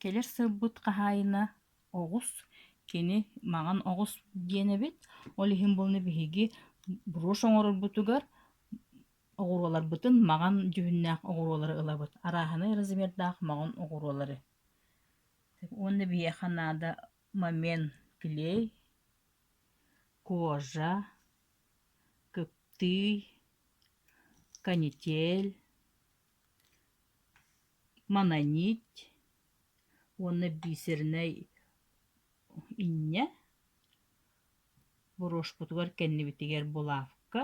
Кэлэр сылбыт хаһаайына оҕус, кини маҥан оҕус диэн эбит, ол иһин буолана биһиги брошь оҥорорбутугар оҕуруоларбытын маҥан дьүһүннээх оҕуруолары ылабыт, арааһынай размердаах маҥан оҕуруолары. Уонна биһиэхэ наада момент клей, кожа, кыптыый, канитель, Мононить уонна бисернэй инньэ. Боруошкутугар кэннибитигэр булавка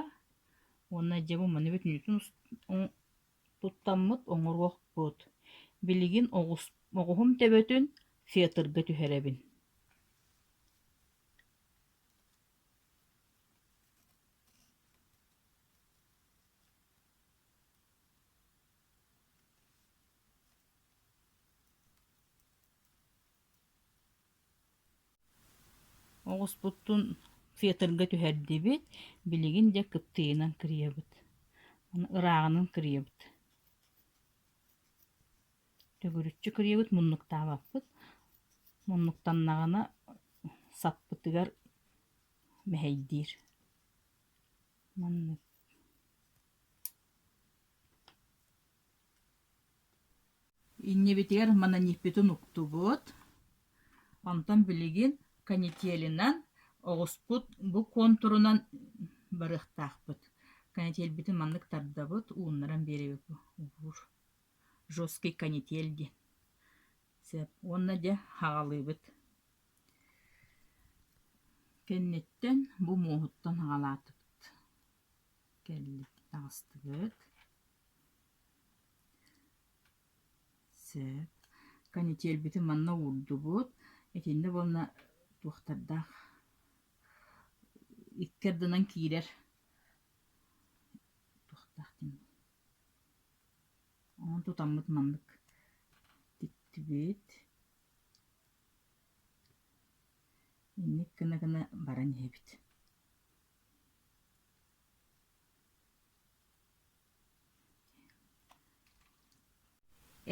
уонна дьэ бу манна бүтүннүүтүн туттаммыт оҥоруохпут. Билигин оҕуһум төбөтүн фетрга түһэрэбин. Оҕуспутун театрга түһэрдибит, билигин дьэ кыптыйынан кырыйабыт, ырааҕынан кырыйабыт. Төгүрүччү кырыйабыт, муннуктаабаппыт. Муннуктаннаҕына саппытыгар мэһэйдиир. Маннык. Иннибитигэр мананьыппытын уктубут, онтон билигин канителинан оҕуспут бу контурунан барыахтаахпыт. Канителбитин маннык тардабыт, ууннаран биэрэбит убуур. Жесткий канитель диэн. Сөп. Уонна дьэ, хаҕалыыбыт. Кэнниттэн бу муоһуттан аҕалаатыбыт. Кэллит таҕыстыбыт. Сөп. Канителбитин манна уурдубут. Итиннэ уонна туохтардаах икки ардынан киирэр туохтаах диэн онон тутаммыт маннык тиктибит Инник гына-гына баран иһэбит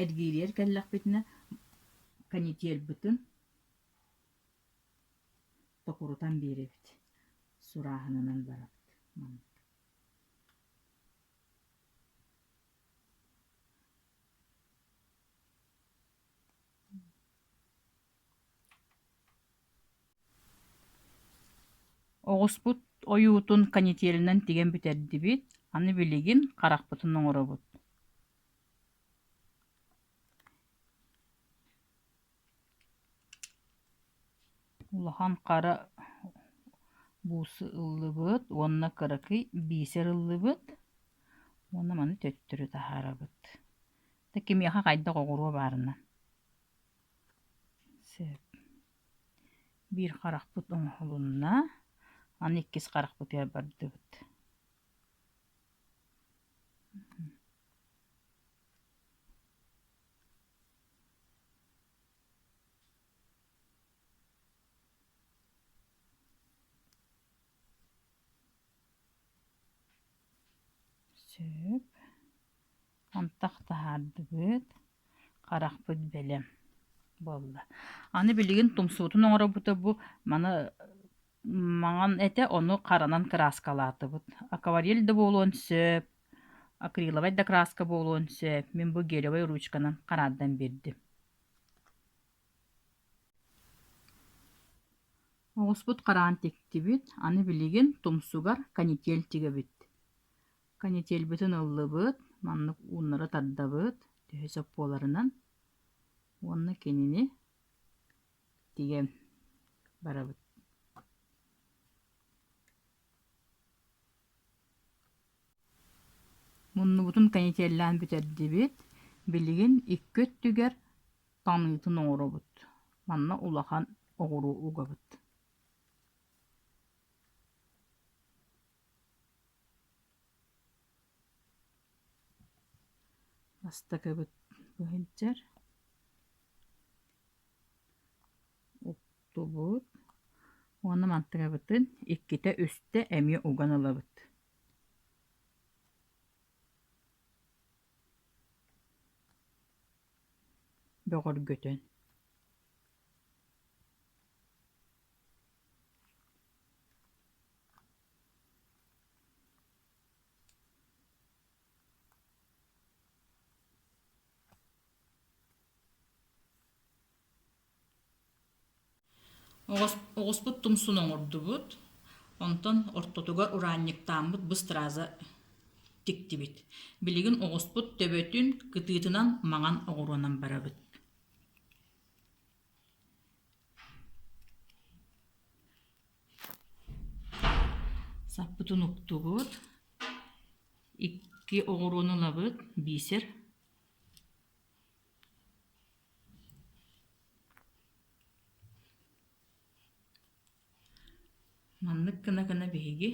эргиирийэр кэллэхпитинэ канителбытын токурутан биэрэбит сурааһынынан барабыт маннык Оҕуспут ойуутун канителынан тигэн бүтэрдибит, аны билигин харахпытын оҥоробут Улахан хара буусы ыллыбыт уонна кыракый биисэр ыллыбыт уонна маны төттөрү таһаарабыт Да кимиэхэ хайдах оҕуруо баарынан биир харахпыт оҥоһулунна аны иккис харахпытыгар бардыбыт сөп Антах таһаардыбыт, харахпыт бэлэм буолла. Аны билигин тумсуутун оҥорбута бу маны маҥан этэ, ону харанан краскалаатыбыт. Акварель да буолуон сөп, акриловай да краска буолуон сөп. Мин бу гелевай ручканан хараардан биэрдим. Оҕуспут хараҕын тиктибит, аны билигин тумсугар канитель тигэбит. Канителбытын ыллыбыт, маннык ууннары тардабыт төһө сөп буоларынан. Уонна кинини тигэн барабыт. Муннубутун канителлээн бүтэрдибит. Билигин икки өттүгэр таныытын оҥоробут. Манна улахан оҕуруу угабыт. Бастакыбыт быһыйдьар, уктубут уонна мантыгабытын иккитэ үстэ эмиэ уган ылабыт. Бөҕөргөтөн Оҕуспут тумсун оҥордубут, онтон ортотугар ураанньыктааммыт быстырааза тиктибит. Билигин оҕуспут төбөтүн кытыытынан маҥан оҕуруонан барабыт Саппытын уктубут, икки оҕуруону ылабыт, биисэр. Маннык гына-гына биһиги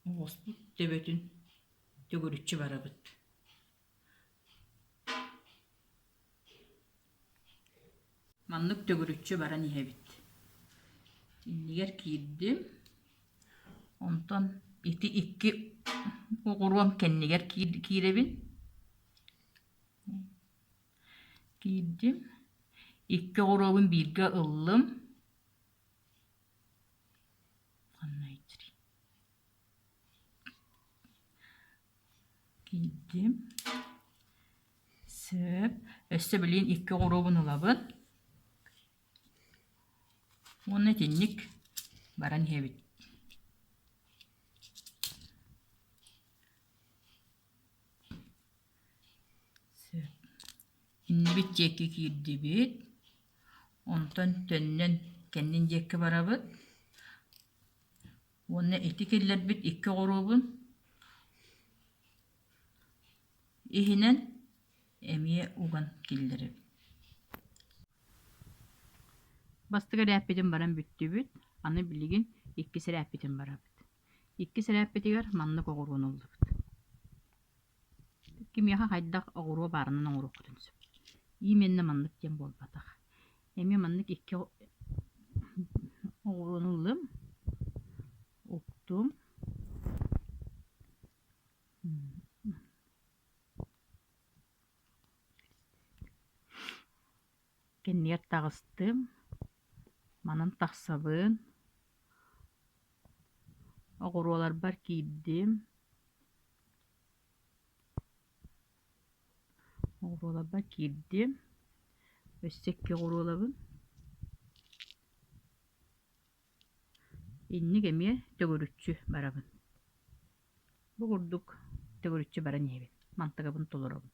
оҕуспут төбөтүн төгүрүччү барабыт Маннык төгүрүччү баран иһэбит. Иннигэр киирдим. Онтон ити икки оҕуруом кэннигэр киирэбин. Киирдим. Икки оҕуруобун бииргэ ыллым. Ханна иттэрий Киирдим Сөп Өссө билигин икки оҕуруобун ылабын Уонна итинник баран иһэбит Сөп Иннибит диэки киирдибит Онтон төннөн кэннин диэкки барабыт уонна ити киллэрбит икки оҕуруобун иһинэн эмиэ уган киллэрэбин бастакы эрээппитин баран бүттүбүт аны билигин иккис эрээппитин барабыт Иккис эрээппитигэр маннык оҕуруон ыллыбыт кимиэхэ хайдах оҕуруо баарынан оҥоруоххутун сөп именна маннык диэн буолбатах эмиэ маннык икки оҕуруону ыллым уктум Кинилэр таҕыстым, манан тахсабын, оҕуруоларбар киирдим, оҕуруоларбар киирдим, өссө икки оҕуруолабын. Инник эмиэ төгүрүччү барабын. Бу курдук төгүрүччү баран иһэбин, мантыгабын толоробун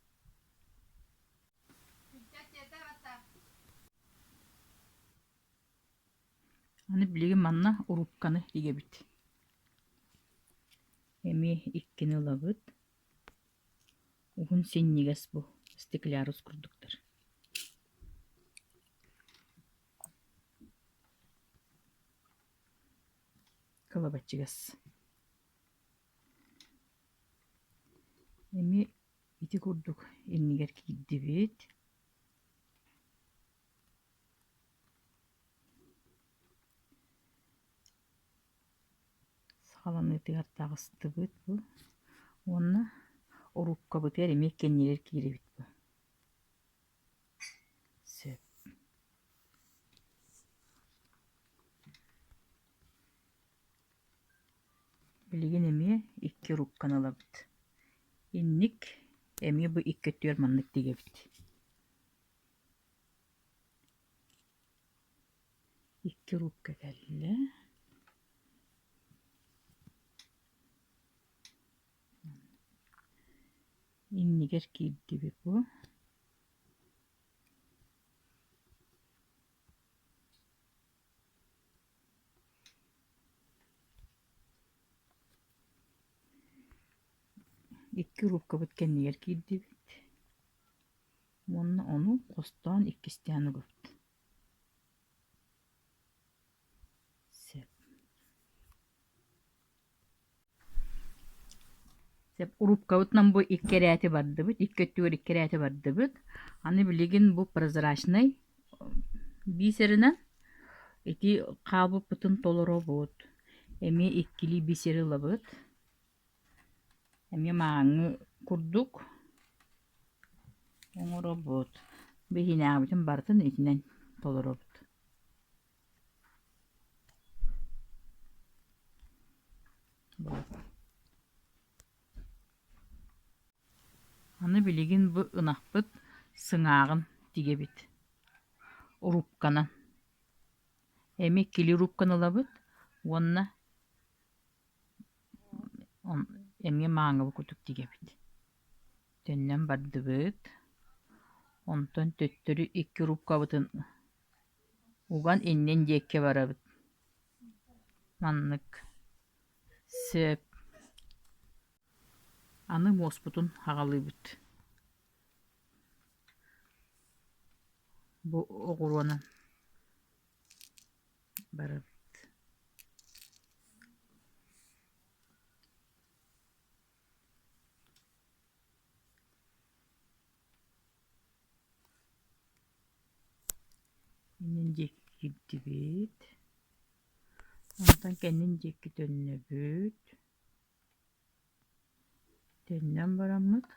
Аны билигин манна урукканы игэбит. Эмиэ иккини ылабыт. Уһун синньигэс бу стеклярус курдуктар Кылабаччыгас. Эми ити курдук иннигэр киирдибит. Саҕаланыытыгар таҕыстыбыт бу. Уонна орууккабытыгар эмиэ кэннигэр киирэбит бу. Сөп Билигин эмиэ икки рукканы ылабыт. Инник эмиэ бу икки өттүгэр маннык тигэбит. Икки рукка кэллэ. иннигэр киирдибит бу икки уруукабыт кэннигэр киирдибит уонна ону хостоон иккистээн угутту сөп Уруккабытынан бу икки эрээти бардыбыт, икки өттүгэр икки эрээти бардыбыт. Аны билигин бу прозрачнай бисеринэн ити хаалбыппытын толоробут. Эмиэ иккилии бисери ылабыт. Эмиэ мааҥы курдук оҥоробут. Биһинээҕибитин барытын итинэн толоробут. Аны билигин бу ынахпыт сыҥааҕын тигэбит, урукканан. Эми кили урукканы ылабыт уонна эмиэ мааҥабы кутук тигэбит. Төннөн бардыбыт. Онтон төттөрү икки уруккабытын уган иннин диэки барабыт маннык сөп аны муоспутун аҕалыыбыт бу оҕуруонан барабыт Иннин дьиктибит. Онтон кэннин дьикки төннөбүт. Төннөн бараммыт.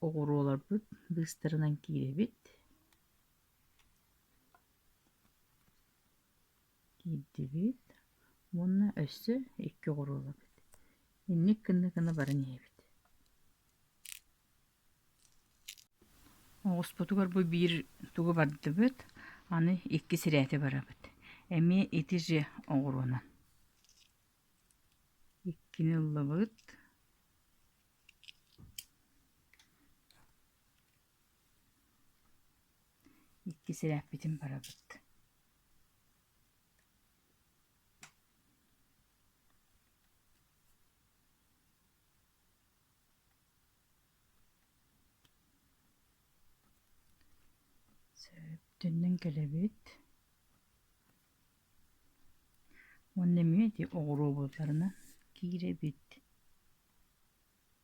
Оҕуруоларбыт быыстарынан киирэбит. киирдибит уонна өссө икки оҕуруол эбит инник гына гына баран иһэбит оҕуспутугар бу биир тугу бардыбыт аны икки сирэйти барабыт эмиэ ити же оҕуруонан иккини ыллыбыт Икки сирээппитин барабыт Сөптөннөн кэлэбит уонна эмиэ ити оҕуруобутарынан киирэбит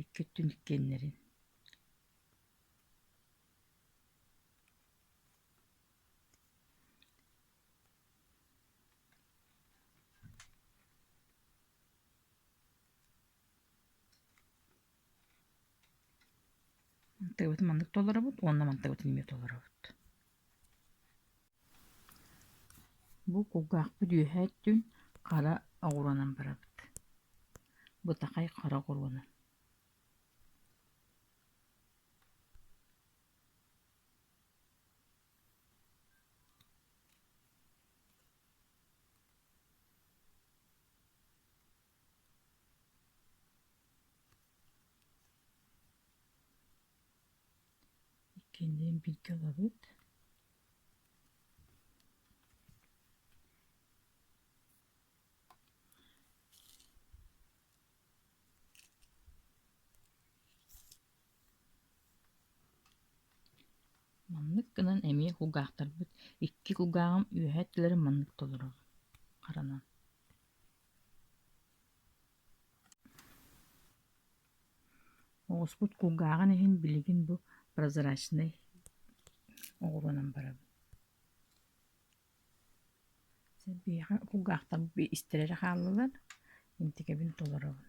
икки өттүн иккиэннэрин мантыгыбытын маннык толоробут уонна мантыгытын эмиэ толоробут Бу кулгаахпыт үөһэ өттүн хара оҕуруонан барабыт, бытахай хара оҕуруонан. Иккиэн бииргэ олорбут. Маннык гынан эмиэ кулгаахтарбыт икки кулгааҕым үөһэ өттүлэрин маннык толорор харанан Оҕуспут кулгааҕын иһин билигин бу прозрачнай оҕуруонан барабын биһиэхэ кулгаахтар истэр эрэ хааллылар интикэбин толоробун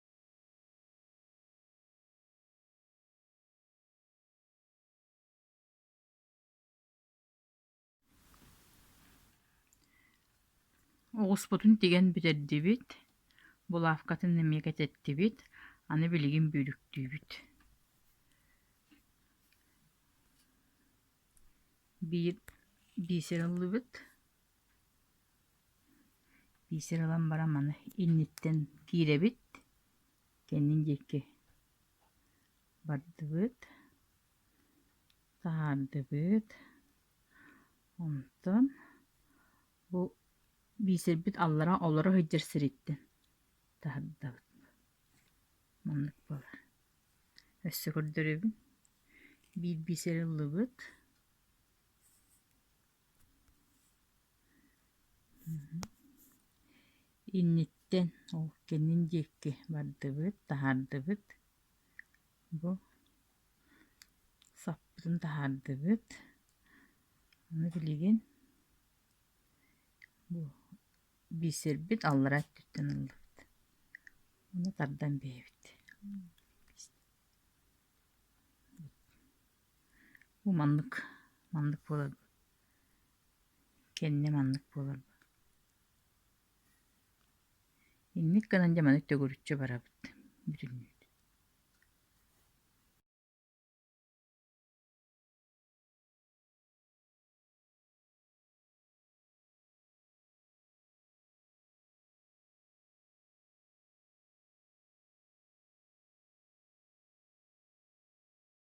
Оҕуспутун тигэн бүтэрдибит, булавкатын эмиэ кэтэттибит, аны билигин бүрүктүүбүт. Биир биисэр ыллыбыт. Биисэр ылан баран маны инниттэн киирэбит, кэннин диэки бардыбыт, таһаардыбыт. Онтон бу биисэрбит аллара олоро сылдьар сириттэн таһардабыт. Маннык буолар. Өссө көрдөрөбүн. Биир биисэр ыллыбыт. Инниттэн ол кэннин диэки бардыбыт, таһаардыбыт. Бу саппытын таһаардыбыт. Аны билигин бу биисэрбит аллараа өттүттэн ыллыбыт. Ону тардан биһэбит. Бу маннык, маннык буоларга кэннэ маннык буоларга инник гынан дьэ маны төгүрүччү барабыт бүтүннүүтүн